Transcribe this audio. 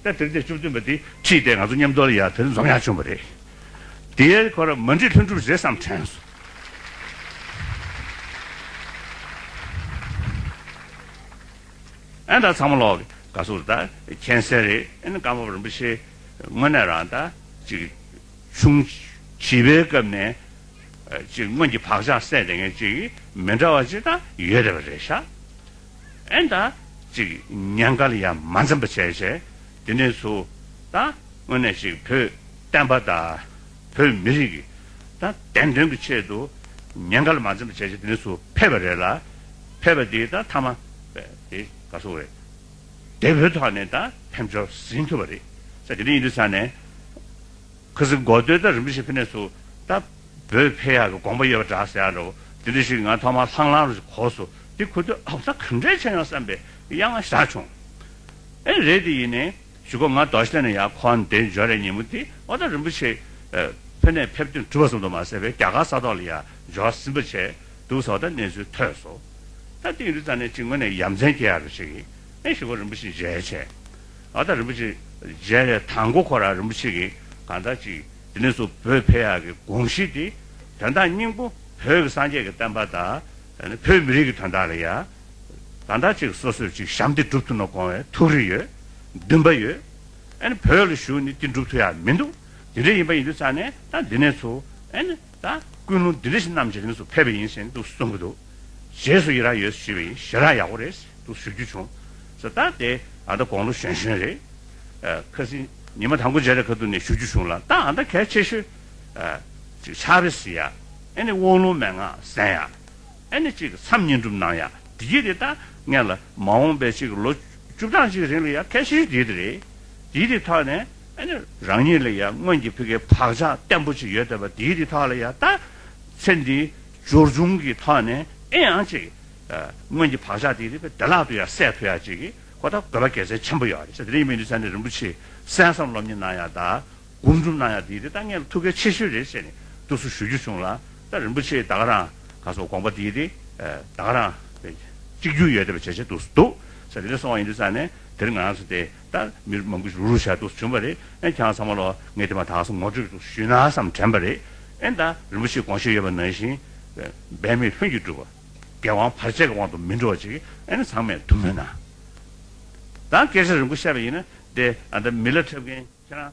སྐབས་དེར་དེ་བཅུ་བདུན་པ་དེ་ཁྲིད་དེ་ང་ཚོ་མཉམ་འདོར་ཡར་དེར་འཛོམས་ཡག་བྱུང་བ་རེད། དེའི་སྐོར་མ་འབྲི་ལྷུན་གྲུབ་རེད་བསམ་དྲན་སོང། ཨན་ད་ཚང་མ་ལོག་ག་སོགས་རེད་ད་མཁྱེན་གསལ་རེད་ཨན་བཀའ་བབས་རིན་པོ་ཆེ་དངོས་གནས་རང་ད་ཅིག་ཆུང་བྱིས་པའི་སྐབས་ནས་ཅིག་སྔོན་གྱི་བག་ཆགས་སད་དེ་ངས་ཅིག་མི་འདྲ་བ་ཅིག་ད་ཡོད་རེད་བ་རེད་ཤག། ཨན་ད། ཅིག་ཉན་ཀ་ལ་ཡང་མ་འཛེམ་པ་བྱས་བྱས་དེ་ནས་སུ་ད་དངོས་གནས་ཞིག་བོད་བསྟན་པ་དང་བོད་མི་རིགས་ད་བདེན་དོན་གྱི་ཆེད་དུ་ཉན་ཀ་ལ་མ་འཛེམ་པ་བྱས་བྱས་དེ་ནས་སུ་ཕེབས་པ་རེད་ལ་ཕེབས་པ་དེ་ད་མཐའ་མ་དེ་ག་སོང་རེད་དེ་བོད་ཐོག་ནས་ད་ཕེབས་འབྱོར་ཟིན་ཐུབ་པ་རེད་ས་དེ་འདྲ་ཡིན་དུས་ས་ནས། ཁུ་སིམ་མགོ་སྟོད་དང་རིན་པོ་ཆེ་ཕེ་ནས་སུ་ད་བོད་ཕེ་ཡག་གི་དགོངས་པ་ཡོད་པ་འདྲ་ཟེར་ཡག་འདྲ་བོ་དེ་འདྲ་ཞིག་ང་ཐོག་མར་ལྷང་ལྷང་རུ་གོ་སོ་དེ་ཁུ་སྟོད་ཨོ་ད་ག་འདྲས་ཆེ་ཡང་བསམ་པའི་གཡག་ང་བཞག་བྱུང་ཨེ་རེད་དེ་ཡིན་ནའི་ཞུ་གོ་ང་རྡོ་ཤ་ལྟེ་ན་ཡག་ཁོ་འདས་འབྱོར་རེད་ཉིན་མོ་དེ་ཨོ་ད་རིན་པོ་ཆེ་ཕེ་ནས་ཕེབས་དོན་གྲུབ་པ་སོང་འདུག་མ་ཟེར་བའི་རྒྱ་གར་ས་ཐོག་ལ་ཡག་འབྱོར་སིམ་པ་བྱས་འདུག་ཟོ་ད་གནས་ཚུལ་ཐོས་སོ་ད་དེ་ཡིན་དུས་ཙང་ནས་ཅིག་ངོ་ནས་ཡ་མཚན་སྐྱེ་ཡག་རུ་ཞིག་ཨེ་ཞུ་གོ་རིན་པོ་ཆེ་མཇལ་བྱས་ཨ་ཏཱ་རིན་པོ་ཆེ་མཇལ་བའི་དང་མགོ་འཁོར་ར་རིན་པོ་ཆེ་གིས་གང་ལྟར་ཅིག་དེ་ནས་བཟུང་བོད་ཕལ་ཡག་གི་དགོངས་གཞི་དེ་དོན་དག་སྙིང་པོ་བོད་ཀྱི་སངས་རྒྱས་ཀྱི་བསྟན་པ་དང་བོད་མི་རིགས་ཀྱི་དོན་དག་ལ་ཡང་གང་ལྟར་ཅིག་སོ་སོས་ཅིག་བྱམས་དེ་སྒྲུབ་ཐུབ་ན་དགོངས་བའི་ཐུགས་རེ་ཡོད་འདུན་པ་ཡོད་ཨ་ནི་བོད་ལ་བཞུགས་ནས་དེ་འགྲུབ་ཐུབ་ཡག་མི་འདུག་དེ་འདྲ་ཡིན་པ་ཡིན་དུས་ཙང་ནས་ད་འདི་ནས་ཚུ་ཨ་ནི། དང། ཀུན་སློང་བདུད་རིགས་རྣམས་ཀྱི་རིང་དུ་ཕེབས་པ་ཡིན་ཟེར་དུ་གསུངས་ཀྱི་འདུག་རྗེས་སུ་ཡི་རངས་ཡོད་ཞུས་པ་ཡིན་ཞེས་རང་ཡག་པོ་རེད་ཟེར་དུ་ཞུ་རྒྱུ་བྱུང། ཟེར་ད་དེ་ཨ་མདའ་དགོང་ལོ་གཞོན་གཞོན་རེད། ཁ་སི་ཉི་མ་དང་པོ་མཇལ་རེ་ཁ་ཐུག་ནས་ཞུ་རྒྱུ་བྱུང་ལ་ད་ཨ་མདའ་གལ་ཆེ་ཤོས་ཅིག་ཆགས་རེ་ཟི་ཡ། ཨེ་ནི་དབང་ལུང་མན་ངག་གསན་ཡ། ཨེ་ནི་ཅིག་མཚམས་བསྙེན་སྒྲུབ་གནང་ཡ་འདི་གྱིས་རེད་ད་ངས་ལ་མ་འོངས་པའི་ཅིག་ལོ་བཅུ་གྲངས་ཅིག་རིང་ལ་ཡ་གལ་ཆེ་ཤོས་འདི་དེ་རེད། འདི་དེ་ཐོག་ནས། རང་ཉིད་ལ་ཡང་སྔོན་གྱི་བོད་ཀྱི་བག་ཆགས་བརྟན་པོ་ཞིག་ཡོད་བསྡད་པ་དེའི་རི་ཐོག་ལ་ཡང་ད་ཚེ་འདི་སྦྱོར་བྱུང་གི་ཐོག་ནས་ཨེ་ཡང་ཅིག་སྔོན་གྱི་བག་ཆགས་དེའི་རི་བདེ་བླག་ཏུ་ཡང་སད་ཕོད་ཡ་ཅིག་ཁོ་ཐག་དགོས་པ་གལ་ཆེན་ཆེན་པོ་ཡོད་རེད་ད་རིང་མིན་འདི་ཚེ་འདི་རིན་པོ་ཆེ་གསན་བསམ་སློབ་གཉེར་གནང་ཡ་ད་སྒོམ་སྒྲུབ་གནང་ཡ་དེའི་རི་ད་ངས་ཐུགས་གལ་ཆེ་ཤོས་རེད་ཅེས་ནས་ཏུ་སུ་ཞུ་རྒྱུ་བྱུང་ལ་ད་རིན་པོ་ཆེ་ད་ག་རང་ག་སོགས་དགོངས་པ་དེའི་རི་ད་ག་རང་གཅིག་གྱུར་ཡོད་བསྡད་པ་བྱེད་བྱེད་ཏུ་སུ་འདུག་ཚེ་འདི་ནས་སོང་བ་ཡིན་འདི་ཚ་ནས་དེར་ང་རང་ཚོ་དེ་ལྟར་མི་རུ་མང་པོས་རུ་རུ་བྱས་འདུག་བྱུང་བ་རེད་ཨེ་ཁྱེད་རང་ཚང་མ་ལོ་ངས་དེ་མ་ཐག་སོ་ངོ་སྤྲོད་དུ་ཞུས་ན་བསམ་དྲན་པ་རེད་ཨེ་ད་རིན་པོ་ཆེས་དགོངས་བཞེད་ཡོད་པ་ནང་བཞིན་འབད་མེད་ལྷུན་གྱིས་འགྲུབ་བ་རྒྱལ་དབང་བར་ཆད་ཀྱི་དབང་དུ་མི་འགྲོ་བ་ཅིག་ཨེ་ན་ཚང་མས་ཐུགས་སྨོན་གནང་དང་སྐད་ཆ་རིང་པོ་བཤད་པ་ཡིན་ན་དེ་ཨ་ད་མི་ལ་འཁྲབ་མཁན་ཁྱེད་རང།